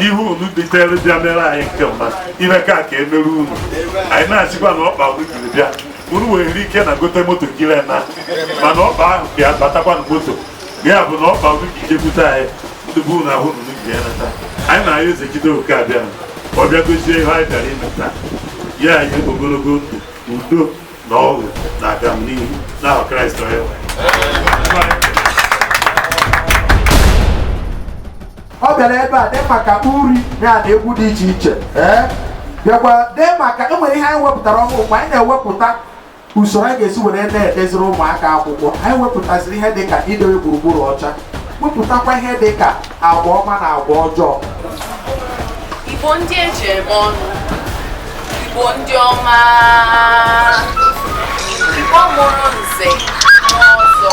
ihe unu bitere bịa mere anyị nke ọma ihe ka ka emere unu anyị na-asịkwa na ọkpa unu jiri bịa unu nwere ike na gote moto jiri naa mana ọkpa ahụ ka ya batakwa na moto ya bụ na ọkpa gị ka ijekwute anyị ndị bụ na ahụ nụnụ ji ya nata anyị na-ayọ eze jide oke abịa ọ bịa gozie ihe anyị bịara ime taa nye anyị ogologo ndụ udo na ọṅụ na agamnihu n'aha kraịst onye nwe anyị. ọ bịara ebe a dị maka uri ya na egwu dị iche iche ee bịakwa dị maka e nwere ihe anyị wepụtara ọhụrụ mgbe anyị na-ewepụta usoro anyị ga-esi were na-edeziri ụmụaka akwụkwọ anyị wepụtaziri ihe dị ka idowe gburugburu ọcha wepụtakwa ihe dị ka agwa ọma na agwa ọjọọ igbo ndị eji eme ọnụ igbo ndị ọma igbo mụrụ nze na ọzọ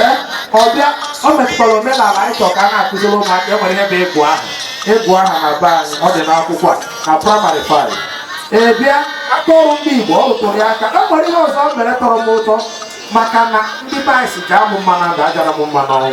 ee ọ bịa o metụtara omenala anyị chọrọ ka a na-akụziri ụmụaka e nwere ihe bụ ịgụ aha ịgụ aha na be anyị ọ dị n'akwụkwọ a na primary five ee bịa aka ọrụ ndị igbo ọ rụtụrụ ya aka e nwere ihe ọzọ m mere tọrọ m ụtọ maka na ndị be anyị sị jaa mụ mma na ndụ ajara m mma n'ọnwụ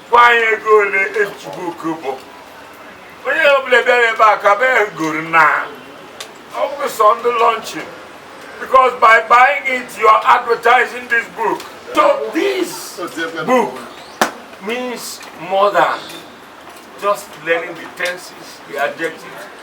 gwa anyị ego ole the book bụ onye ọbụla bịara ebe a ka bee goro na ọ bụ sọ the launching because by buying it you are advertising this book so this book means more than just learning the tenses the adjectives